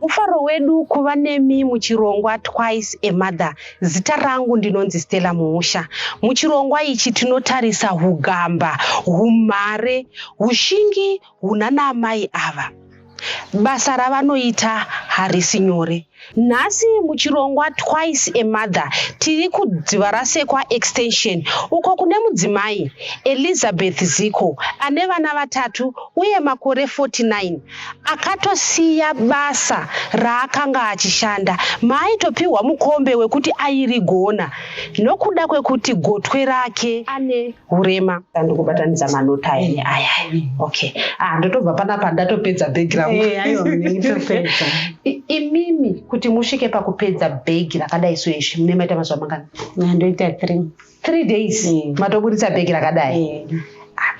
mufaro wedu kuva nemi muchirongwa twice a mother zita rangu ndinonzi stella muusha muchirongwa ichi tinotarisa hugamba humhare hushingi hunana amai ava Basa ravanoita harisi nyore. Nhasi muchirongwa Twice a Mother tiri kuDzivarasekwa Extension uko kune mudzimai Elizabeth Ziko ane vana vatatu uye makore 49 akatosiya basa raakanga achishanda maaitopihwa mukombe wekuti airigona nokuda kwekuti gotwe rake ane hurema tandi kubatanidza manota aya eh, aya okay ah ndotobva panapa ndatopedza bhegi rangu eh, imimi kuti musvike pakupedza bhegi rakadai so izvi mune maita mazuva mangani ndoita three three days eh. matoburitsa bhegi rakadai ah,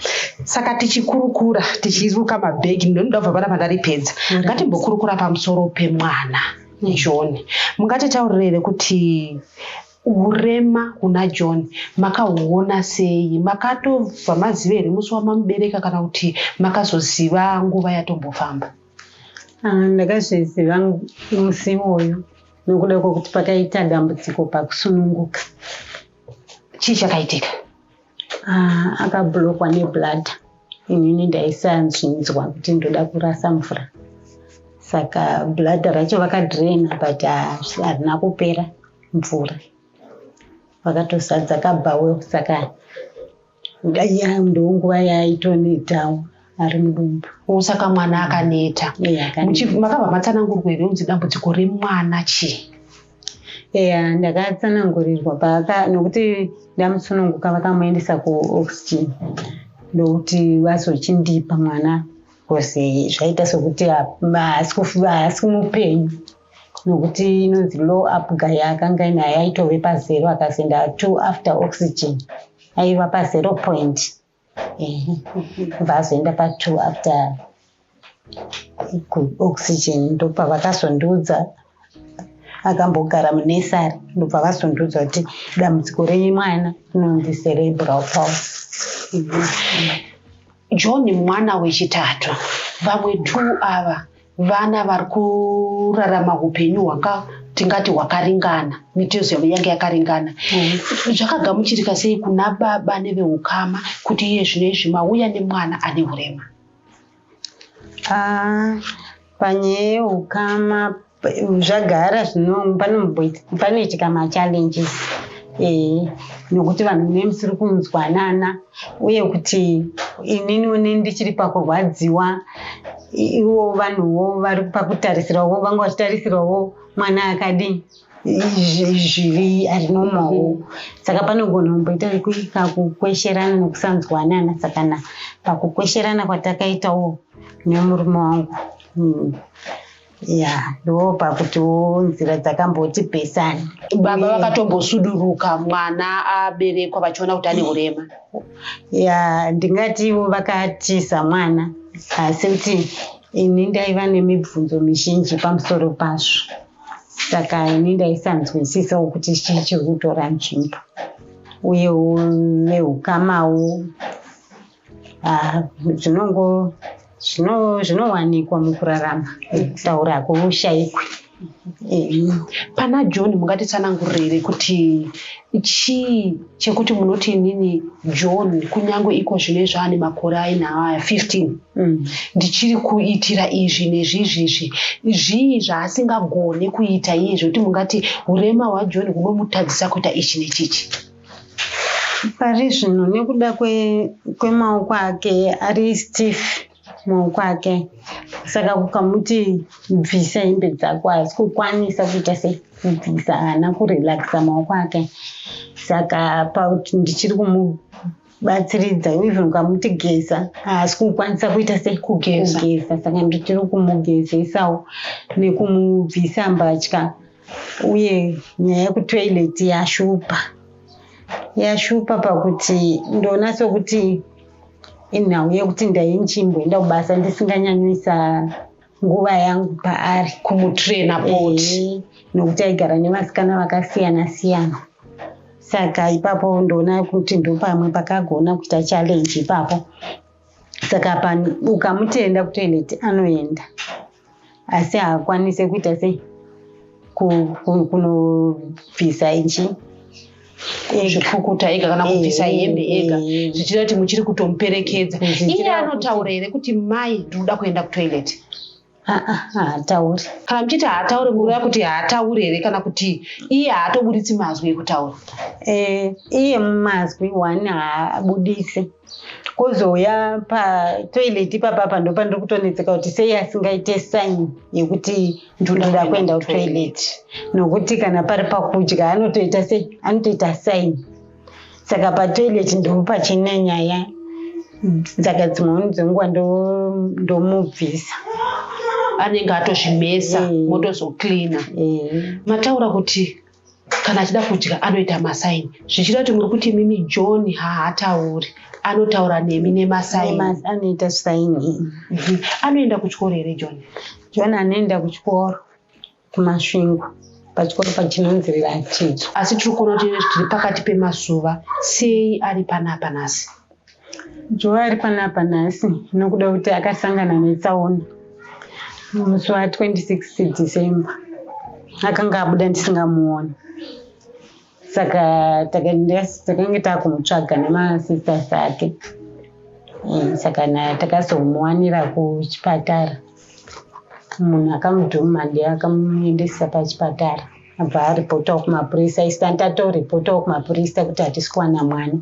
saka tichikurukura tichiruka mabhegi ndinoda kubva panapa ndaripedza ngatimbokurukura pamusoro pemwana joni mungati taurirere kuti Urema huna John makahuona sei? Makatobva maziva here musi wamamubereka kana kuti makazoziva nguva yatombofamba? Ah, ndakazviziva musi iwoyo nokuda kwekuti pakaita dambudziko pakusununguka. Chii chakaitika? Ah, akablokwa neblood inini ndaisanzvinzwa kuti ndoda kurasa mvura saka blood racho vakadraina but ah, harina kupera mvura vakatozadza kabhawe saka ndoonguva yaitonoitawo ari mudumbu oh, saka mwana akaneta makabva matsanangurwa here unzi dambudziko remwana chii eya ndakatsanangurirwa paaka nokuti ndamusununguka vakamuendesa kuoxygen ndokuti vazochindipa mwana bcause zvaita sokuti haasi kumupenyu nokuti inonzi low up guy akanga inaye aitove pazero akazoenda two after oxygen aiva pazero point vazoenda patwo after kuoxygen ndopavakazondiudza akambogara munesari ndobva vazondiudza kuti dambudziko renyu mwana inonzi cerebral palsy john mwana wechitatu vamwe two ava vana vari kurarama upenyu hwaka tingati hwakaringana mitezo yavo yange yakaringana mm. zvakagamuchirika sei kuna baba neveukama kuti iye zvino izvi mauya nemwana ane urema ah, panyaya yeukama zvagara zvino panoitika machallenges ee eh, nokuti vanhu mune musiri kunzwanana uye kuti inini une ndichiri pakurwadziwa iwo vanhuwo vari pakutarisirawo vanga vachitarisirawo mwana akadii zvivi ari nomawo saka panogona kumboita kakukwesherana nekusanzwanana saka na pakukwesherana kwatakaitawo nemurume wangu hmm ya ndo pakutiwo nzira dzakamboti pesani baba vakatombosuduruka mwana aberekwa vachiona kuti ane urema ya ndingati ivo vakatiza mwana asi kuti ini ndaiva nemibvunzo mizhinji pamusoro pazvo saka ini ndaisanzwisisawo kuti chii chiri kutora nzvimbo uye neukamawo ah, zvinongo zvinowanikwa zvino mukurarama kutaura hakushaikwi pana john mungatitsanangurire kuti chii chekuti munoti inini john kunyange iko zvine zvaane makore aina aya 15 mm. ndichiri kuitira izvi nezvizvizvi zvii zvaasingagone kuita iye zvekuti mungati urema hwajohn hunomutadzisa kuita ichi nechichi Pari zvino nekuda kwemaoko ake ari stiff maoko ake saka kukamuti bvisa hembe dzako haasi kukwanisa kuita sekubvisa haana kurelaxa maoko ake saka pakuti ndichiri kumu batsiridza even ukamuti geza haasi kukwanisa kuita sekugeza saka ndichiri kumugezesawo nekumubvisa mbatya uye nyaya yekutoilet yashupa yashupa pakuti ndoona sokuti inhau yekuti ndainchimboenda kubasa ndisinganyanyisa nguva yangu paari kumutraina poti nokuti aigara nevasikana vakasiyana siyana saka ipapo ndoona kuti ndopamwe pakagona kuita challenge ipapo saka pano ukamutenda kutoilet anoenda asi haakwanise kuita sei kunobvisa ichi zvekukuta ega kana kubvisa eh, hembe ega eh, eh. zvichita kuti muchiri kutomuperekedza iye anotaura here kuti mai ndinoda kuenda kutoilet haatauri kana muchiti haatauri mureva kuti haatauri here kana kuti iye haatoburitsi mazwi ekutaura eh, iye mazwi one haabudisi kozouya patoilet ipapa apa ndopa ndiri kutonetseka kuti sei asingaite sign yekuti ndinoda kuenda kutoilet nokuti kana pari pakudya anotoita sei anotoita sign saka patoilet ndipo pachine nyaya saka dzimweni dzenguva ndomubvisa anenge atozvimesa motozocleana mataura kuti kana achida kudya anoita masaini zvichida kuti muri kuti mimi john haatauri anotaura nemi nemasainoita saini mhm. anoenda kuchikoro here john john anoenda kuchikoro kumasvingo pachikoro pachinonzirira chidzo asi tiri kuona kuti tiri pakati pemazuva sei ari panapa nhasi joa ari panapa nhasi nokuda kuti akasangana netsaona musi wa 26 december akanga abuda ndisingamuoni saka takange takumutsvaga nemasisters ake mm, saka takazomuwanira kuchipatara munhu akamudhuma ndiye akamuendesa pachipatara abva aripotawo kumapurisa istan tatoripota kumapurisa kuti hatisi kuwana mwana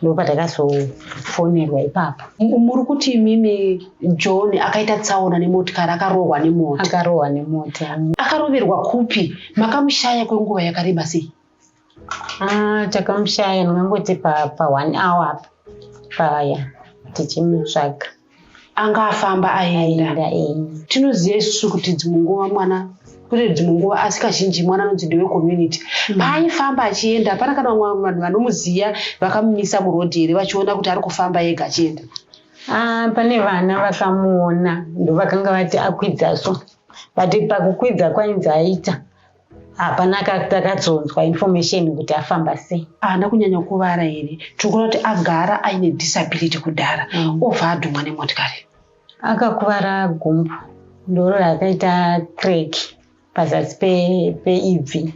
ndopatakazofonerwa ipapo muri kuti imimi john akaita tsaona nemotikari akarohwa nemota akarohwa nemota akaroverwa kupi makamushaya kwenguva yakareba sei ah, takamushaya ndingangoti pa one hour apa paya tichimutsvaga anga afamba aenda tinoziva isusu kuti dzimwe nguva mwana kune dzimwe nguva asi kazhinji mwana anonzi ndewe community mm. paaifamba achienda hapana kana vamwe vanhu vanomuziva vakamumisa murodhi here vachiona kuti ari kufamba ega achienda ah, pane vana vakamuona ndovakanga vati akwidza so but pakukwidza kwainzi aita hapana takadzonzwa information kuti afamba sei haana kunyanya kuvara here tikuona kuti agara aine disability kudhara mm. obva adhumwa nemotikari akakuvara gumbo ndoro rakaita crack pazasi peibvi pe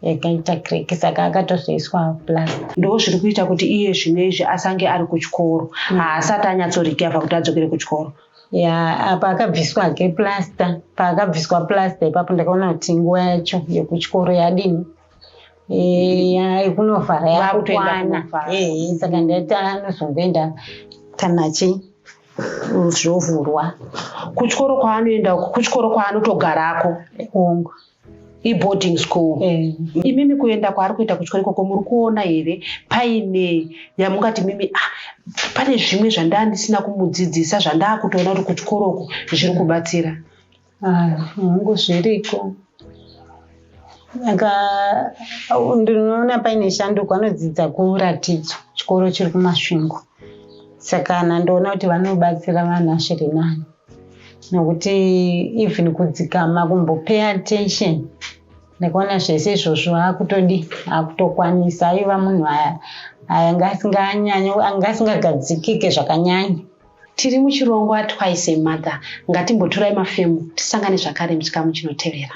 yakaita crack saka akatozoiswa plast ndo zviri kuita kuti iye zvino izvi asange ari kuchikoro mm. haasati anyatsorecover kuti adzokere kuchikoro ya apa akabviswa hake plasta paakabviswa plasta ipapo ndakaona kuti nguva yacho yekuchikoro yadini eh, yekunovhara yakukwana eh, saka ndati anozongoenda kana chii zvovhurwa kuchikoro kwaanoenda uko kuchikoro kwaanotogarako ongo iboarding school eh. imimi kuenda kwaari kuita kuchikoro ikoko muri kuona here paine yamungati mimi ah, pane zvimwe zvandaa ndisina kumudzidzisa zvandaa kutoona kuti kuchikoro uku zviri kubatsira hangu ah, zviriko aka ndinoona paine shanduko anodzidza kuratidzo chikoro chiri kumasvingo saka nandoona kuti vanobatsira vanhu asviri nani nokuti even kudzikama kumbopay attention nekuona zvese izvozvo akutodi akutokwanisa aiva munhu aya aya ngaasinganyanye anga asingagadzikike zvakanyanya tiri muchirongwa twice emother ngatimboturai mafemu tisangane zvakare muchikamu chinotevera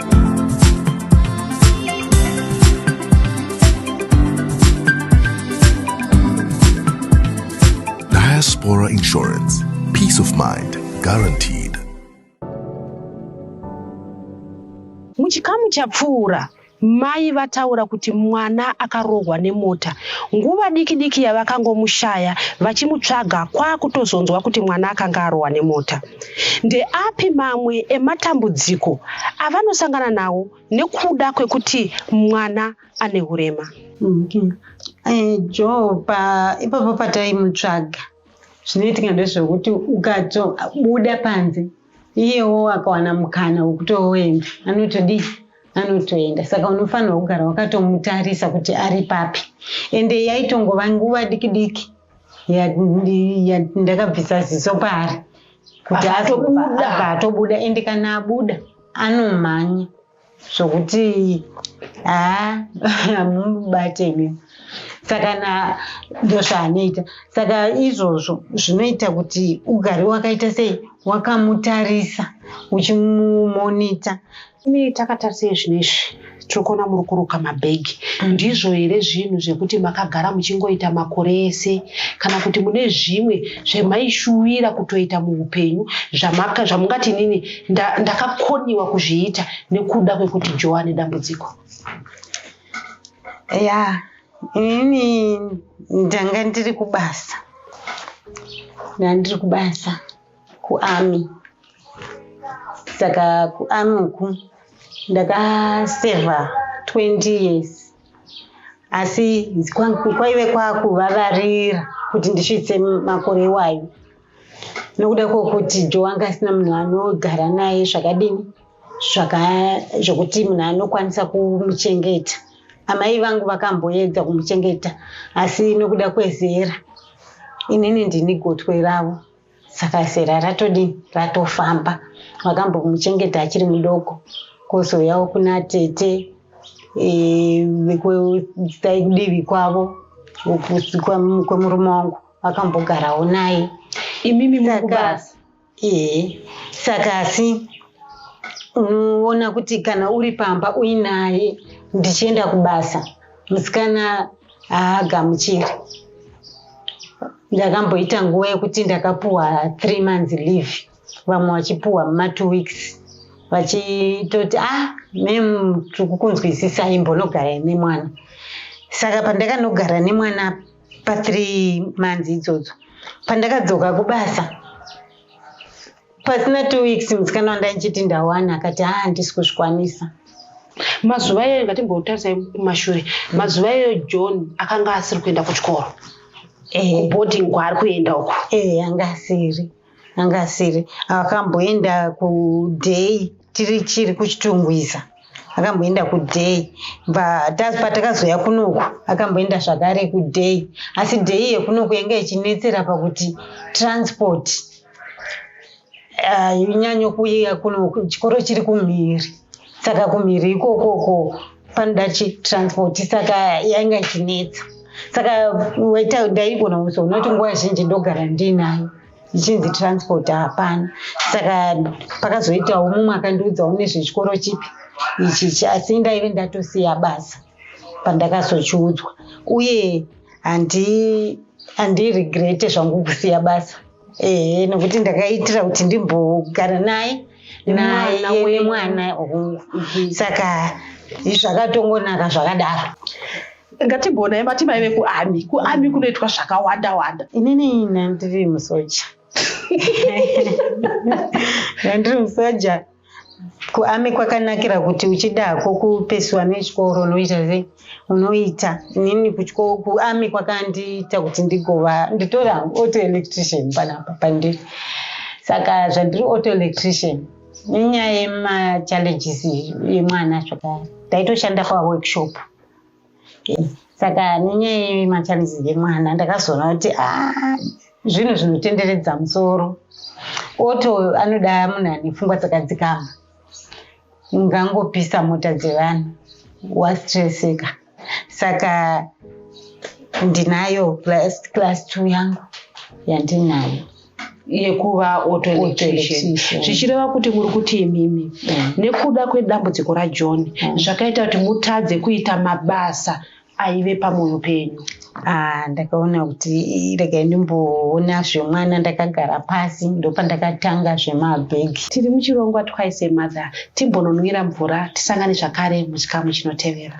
Diaspora Insurance. Peace of mind guaranteed. Muchikamu chapfuura mai vataura kuti mwana akarohwa nemota nguva diki diki yavakangomushaya vachimutsvaga kwakutozonzwa kuti mwana akanga arohwa nemota Ndeapi mamwe ematambudziko avanosangana nawo nekuda kwekuti mwana ane urema? Okay. Eh, Joe pa ipapo pataimutsvaga zvinoitika ndezvekuti ukatobuda panze iyewo akawana mukana wekutoenda anotodii anotoenda saka unofanirwa kugara wakatomutarisa kuti ari papi ende yaitongova nguva diki diki ndakabvisa ziso paari kuti atobuda atobuda ende kana abuda anomhanya zvokuti haa hamubate mi saka na ndozvaanoita saka izvozvo zvinoita kuti ugari wakaita sei wakamutarisa uchimumonita Imi takatarisei zvino izvi tiri kuona muri kuruka mabhegi mm. ndizvo here zvinhu zvekuti makagara muchingoita makore ese kana kuti mune zvimwe zvemaishuwira kutoita muupenyu zvamungati nini ndakakoniwa kuzviita nekuda kwekuti joa ane dambudziko ya ini ndanga ndiri kubasa ndandiri kubasa kuami saka kuami uku ndakasevha 20 years asi kwaive kwakuvavarira kuti ndisvitse makore iwayo nokuda kwokuti jo anga asina munhu anogara naye zvakadini zvokuti munhu anokwanisa kumuchengeta amai vangu vakamboedza kumuchengeta asi nokuda kwezera inini ndini gotwe ravo saka zera ratodii ratofamba wakambomuchengeta achiri mudoko kozouyawo kuna tete vekudivi e, kwavo kwemurume wangu vakambogarawo naye imimi mukubasa ee saka asi unoona kuti kana uri pamba uinaye ndichienda kubasa musikana haagamuchiri ndakamboita nguva yekuti ndakapuwa three months leave vamwe vachipuwa muma two weeks vachitoti ah mem tiri kukunzwisisai mbonogarai nemwana saka pandakanogara nemwana pathree months idzodzo pandakadzoka kubasa pasina two weeks musikana wandaichiti ndawana akati haa handisi kuzvikwanisa mazuva iyoyo ngatimbotarisai kumashure mazuva iyoyo john akanga asiri kuenda kuchikoro kuboarding eh. kwaari kuenda uko ee eh, anga asiri anga asiri akamboenda kuday tiri chiri kuchitungwiza akamboenda kuday patakazoya kunoku akamboenda zvakare kuday asi day yekunoku yanga ichinetsera pakuti transport hainyanye ah, kuuya kuno chikoro chiri kumhiri saka kumhiri ikokoko panoda chitransport saka yanga ichinetsa saka waita ndaigona kuzoona kuti nguva zhinji ndogara ndiinayo ichinzi transport hapana saka pakazoitawo mumwe akandiudzawo nezvechikoro chipi ichichi asi ndaive ndatosiya basa pandakazochiudzwa uye handiregrete zvangu kusiya basa ehe nokuti ndakaitira kuti ndimbogara naye naye nemwana hongu mhm. saka zvakatongonaka zvakadaro ngatimboonai mati maive kuami kuami kunoitwa zvakawanda wanda inini nandiri musoja nandiri musoja kuami kwakanakira kuti uchida hako kupesiwa nechikoro unoita ze unoita inini kuchikoro kuami kwakandiita kuti ndigova nditori hangu auto electrician panapa pandiri saka zvandiri auto electrician inyaya yemachallenges yemwana zvakare ndaitoshanda paworkshop saka nenyaya yemachallenges emwana ndakazoona kuti ah, zvinhu zvinotenderedza musoro oto anoda munhu ane pfungwa dzakadzikama ungangopisa mota dzevanhu wastreseka saka ndinayo class two yangu yandinayo yekuva autoelectrician zvichireva kuti muri kuti imimi mm. nekuda kwedambudziko rajohn mm. zvakaita kuti mutadze kuita mabasa aive pamwoyo penyu ah, ndakaona kuti regai ndimboona zvemwana ndakagara pasi ndopandakatanga zvemabhegi tiri muchirongwa twice mother timbononwira mvura tisangane zvakare muchikamu chinotevera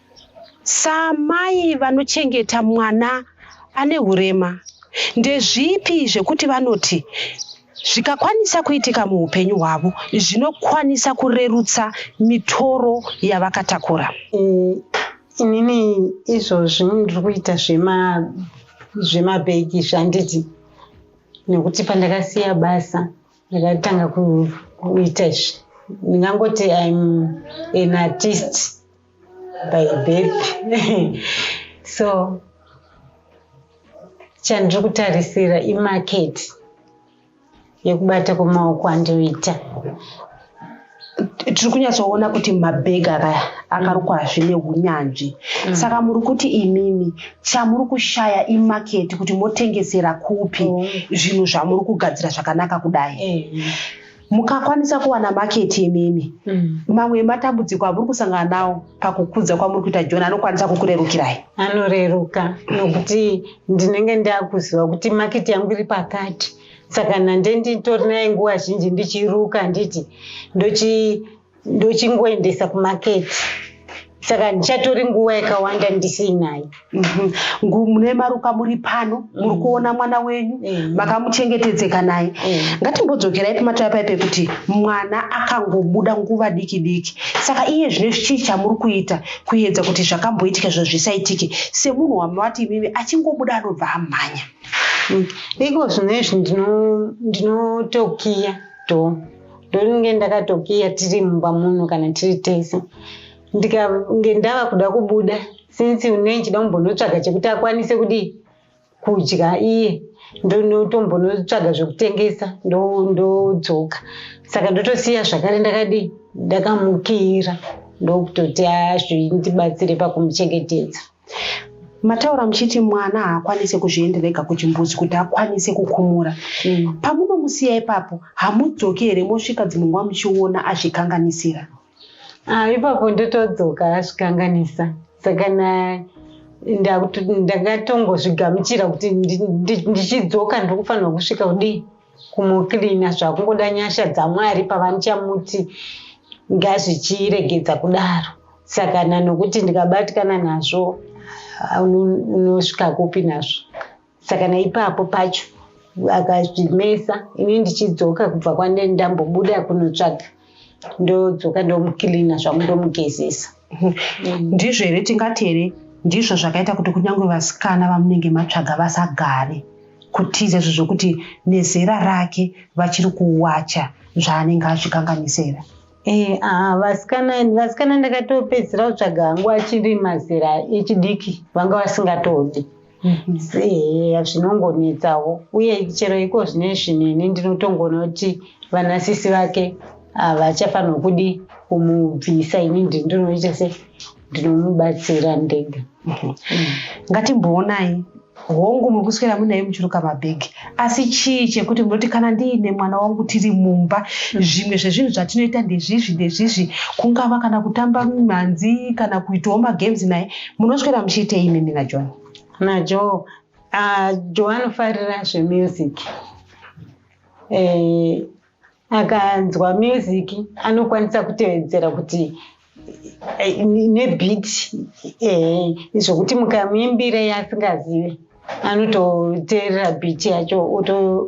Samai vanochengeta mwana ane hurema ndezvipi zvekuti vanoti zvikakwanisa kuitika muupenyu hwavo zvinokwanisa kurerutsa mitoro yavakatakura inini izvozvi ndiri kuita zvemabhegi zvanditi nekuti pandakasiya basa ndakatanga kuita izvi ndingangoti im an artist by birth so chandiri kutarisira imarket yekubata kwemaoko andinoita tiri kunyatsoona kuti mabhegi aka akarukwa zvine unyanzvi mm. saka muri kuti imimi chamuri kushaya imaketi kuti motengesera kupi oh. zvinhu zvamuri kugadzira zvakanaka kudai eh. mukakwanisa kuwana maketi imimi mm. mamwe ematambudziko amuri kusangana nawo pakukudza kwamuri kuita joni anokwanisa kukurerukirai anoreruka nokuti ndinenge ndakuziva kuti maketi yangu iri pakati saka nande nditori naye nguva zhinji ndichiruka nditi ndochi ndochingoendesa kumaketi saka ndichatori nguva yakawanda ndisinaye mhm. mune maruka muri pano muri mhm. kuona mwana wenyu mhm. makamuchengetedzeka naye ngatimbodzokerai pamatoya pai pekuti mwana akangobuda nguva diki diki saka iye zvine chii chamuri kuita kuedza kuti zvakamboitika zvo zvisaitike semunhu wamavati imimi achingobuda anobva amhanya mm. iko zvino izvi ndinotokiya to ndonge ndakatokiya tiri mumba muno kana tiri tese ndikange ndava kuda kubuda since unei chida kumbonotsvaga chekuti akwanise kudii kudya iye ndonotombonotsvaga zvekutengesa ndodzoka saka ndotosiya zvakare ndakadii ndakamukira ndokutoti azvindibatsire pakumuchengetedza mataura muchiti mwana haakwanise kuzviendera ega kuchimbuzi kuti akwanise kukumura mm. pamunomusiya ipapo hamudzoki here mosvika dzimwe nguva muchiona azvikanganisira ah, ipapo ndotodzoka azvikanganisa saka ndakatongozvigamuchira kuti ndichidzoka ndiri kufanirwa kusvika kudii kumucleana zvakungoda nyasha dzamwari pavanichamuti ngazvichiregedza kudaro saka na nokuti ndikabatikana nazvo unosvika kupi nazvo saka naipapo pacho akazvimesa ini ndichidzoka kubva kwandendambobuda kunotsvaga ndodzoka ndomukilina zvangu ndomugezesa mm. ndizvo here tingati here ndizvo zvakaita kuti kunyange vasikana vamunenge matsvaga vasagare kutiza izvo zvokuti nezera rake vachiri kuwacha zvaanenge azvikanganisira eh, ah, vasikana vasikana ndakatopedzisira kutsvaga hangu achiri mazera echidiki vanga vasingatodi eya zvinongonetsawo uye chero iko zvine zvinini ndinotongoona kuti vana sisi vake havachafanirwa kudi kumubvisa ini ndinoita se ndinomubatsira ndega ngatimboonai hongu muri kuswera munaye muchiruka mabhegi asi chii chekuti munoti kana ndiine mwana wangu tiri mumba mm. zvimwe zvezvinhu zvatinoita ndezvizvi ndezvizvi kungava kana kutamba mhanzi kana kuitawo magames naye munoswera muchiitei imimi najohn najoe ah, joe anofarira zvemusic eh, akanzwa music anokwanisa kutevedzera kuti eh, nebit eh, zvokuti mukamuimbira yasingazive anototeerera bit yacho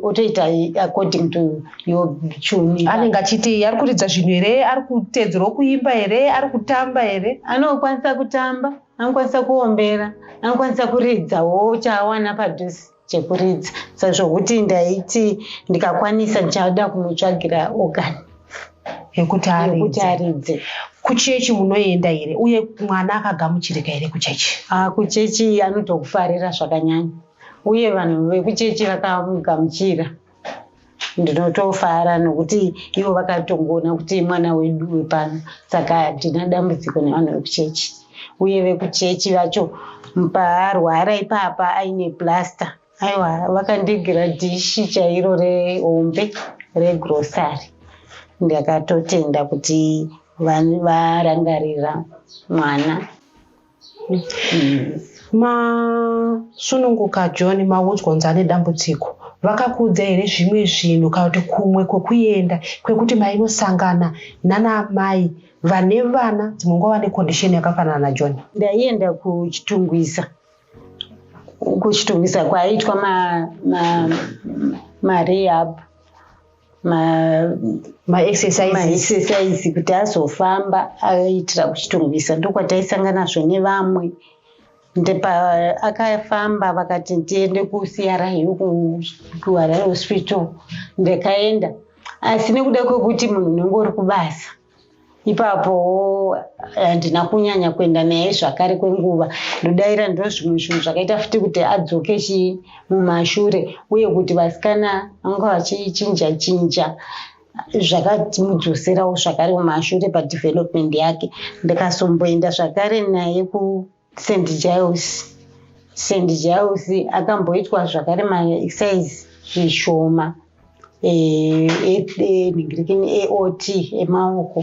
otoita according to your tune anenge achiti ari kuridza zvinhu here ari kuteedzerwa kuimba here ari kutamba here anokwanisa kutamba anokwanisa kuombera anokwanisa kuridzawo chaawana padhusi chekuridza sezvokuti ndaiti ndikakwanisa ndichada kumutsvagira organ yekuti aridze kuchechi munoenda here uye mwana akagamuchirika here kuchechi ah, kuchechi anotokufarira zvakanyanya uye vanhu vekuchechi vakamugamuchira ndinotofara nokuti ivo vakatongoona kuti mwana wedu wepano saka hatina dambudziko nevanhu vekuchechi uye vekuchechi vacho paarwara ipapa aine plasta aiwa vakandigera dhishi chairo rehombe regrosary ndakatotenda kuti varangarira mwana masununguka john maudzwa unzi ane dambudziko vakakuudza here zvimwe zvinhu kana kuti kumwe kwekuenda kwekuti mainosangana nanaamai vane vana dzimwe nguva vane kondisheni yakafanana najohn ndaienda kuchitungwisa kuchitungwisa kwaiitwa marehab ma, ma maexercise kuti azofamba aitira kuchitorwisa ndokwaitaisanganazvo nevamwe akafamba vakati ndiende kucri kuharare hospital ndakaenda asi nekuda kwekuti munhu unenge uri kubasa ipapo handina eh, kunyanya kuenda naye zvakare kwenguva ndodaira ndo zvimwe zvinhu zvakaita futi kuti adzoke chii mumashure uye kuti vasikana vanga vachichinja chinja zvakatimudzoserawo zvakare mumashure padevelopment yake ndikasomboenda zvakare naye ku St Giles St Giles akamboitwa zvakare maexercise zvishoma eningirekeni eh, eh, eot emaoko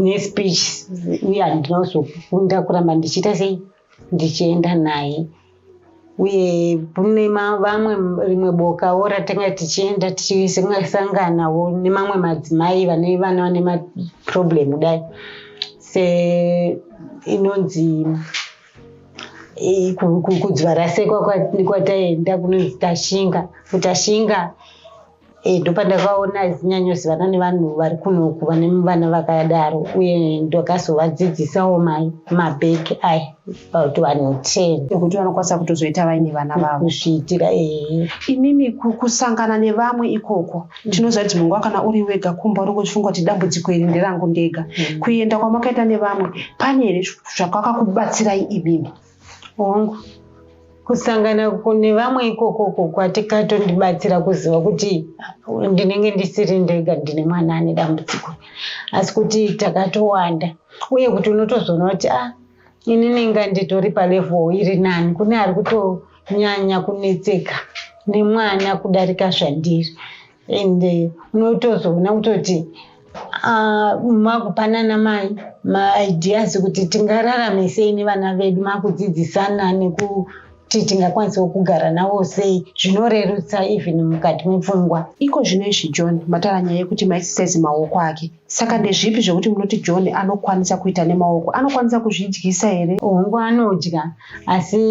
nespeech uye handina kuzokunda kuramba ndichiita sei ndichienda naye uye kune vamwe rimwe bokawo ratanga tichienda tichisanganawo nemamwe madzimai vane vana vane maproblem kudai se inonzi kudzvarasekwa kwataenda kunonzi tashinga kutashinga e, eh, ndopandakaona azinyanyozivana nevanhu vari kunoku vane vana vakadaro uye ndakazovadzidzisawo mai mabheki aya about vanhu ten ekuti vanokwanisa kutozoita vaine vana vavo kuzviitira ee eh. imimi kusangana nevamwe ikoko tinoziva kuti munguva kana uri wega kumba uri kuchifunga kuti dambudziko iri nderangu ndega mm. kuenda kwamakaita nevamwe pane here zvakakakubatsirai imimi hongu kusangana kune vamwe ikoko ko kwatikatondibatsira kuziva kuti ndinenge ndisiri ndega ndine mwana ane dambudziko asi kuti takatowanda uye kuti unotozoona kuti a ah, ini nenga nditori palevel iri nani kune ari kutonyanya kunetseka nemwana kudarika zvandiri and eh, unotozoona kutoti ah, makupanana mai maideas kuti tingararame sei nevana vedu makudzidzisana nekuti tingakwanisawo kugara navo sei zvinorerutsa even mukati mepfungwa iko zvino izvi john matara nyaya yekuti maisisezi maoko ake saka ndezvipi zvekuti munoti john anokwanisa kuita nemaoko anokwanisa kuzvidyisa here hongu anodya asi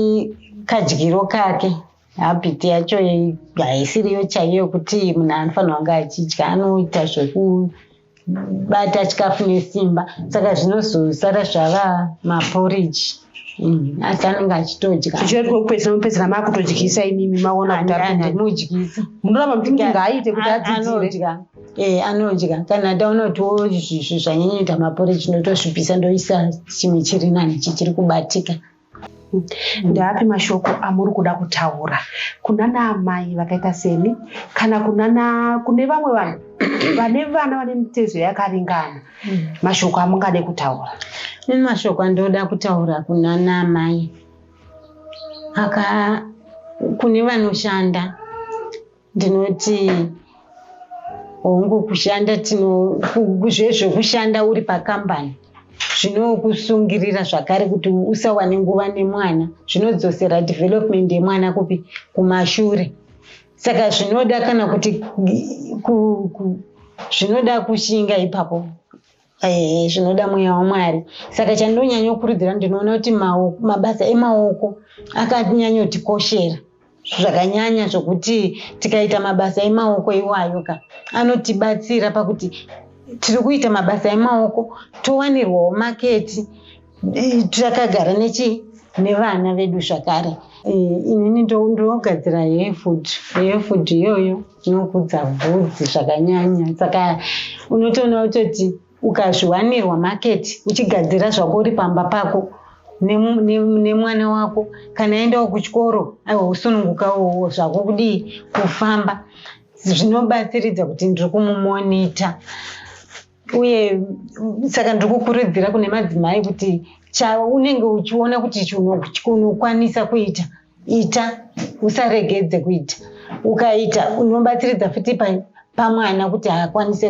kadyiro kake habiti yacho haisiriyo chaiyo yokuti munhu anofanirwa kunge achidya anoita zvekubata chikafu nesimba saka zvinozosara zvava maporiji mm, asi anenge achitodyaoeaopedzera makutodyisa imimi maonamudyisa munoramba muti mti ngaaite kuti adzidzire ee eh, anodya kana taonotiwo zvanyanyita maporiji ndotosvipisa ndoisa chimwe chiri nani chichiri kubatika Ndeapi mashoko amuri kuda kutaura kuna naamai vakaita seni kana kunana kune vamwe vanhu vane vana vane mitezo yakaringana mm. mashoko amungade kutaura ini mashoko andoda kutaura kuna naamai aka kune vanoshanda ndinoti hongu kushanda zvezvekushanda uri pakambani zvinokusungirira zvakare kuti usawane nguva nemwana zvinodzosera development yemwana kupi kumashure saka zvinoda kana kuti zvinoda kushinga ipapo Ehe, zvinoda mweya waMwari. Saka chandinonyanyokurudzira ndinoona kuti maoko, mabasa emaoko akanyanyotikoshera zvakanyanya zvokuti tikaita mabasa emaoko iwayo ka anotibatsira pakuti tiri kuita mabasa emaoko towanirwawo maketi takagara nechi nevana vedu zvakare inini ndogadzira hee food hee food iyoyo inokudza bvudzi zvakanyanya saka unotoona kutoti ukazviwanirwa maketi uchigadzira zvako uri pamba pako nemwana wako kana aendawo kuchikoro aiwa usunungukawowo zvako kudii kufamba zvinobatsiridza kuti ndiri kumumonita uye saka ndiri kukurudzira kune madzimai kuti chaunenge uchiona kuti chinokwanisa kuita ita usaregedze kuita ukaita unobatsiridza futi pamwana kuti akwanise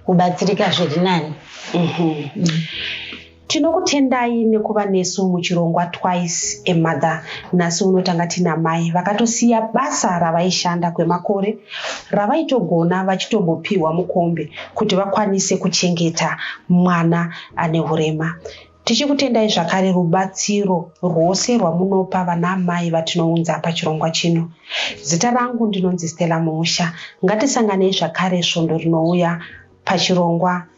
kubatsirika zviri nani mhm. mm. Tinokutendai nekuva nesu muchirongwa Twice a Mother. Nhasi uno tanga tina mai vakatosiya basa ravaishanda kwemakore ravaitogona vachitombopiwa mukombe kuti vakwanise kuchengeta mwana ane hurema. Tichikutendai zvakare rubatsiro rwose rwamunopa vana mai vatinounza pachirongwa chino. Zita rangu ndinonzi Stella Muusha. Ngatisanganei zvakare svondo rinouya pachirongwa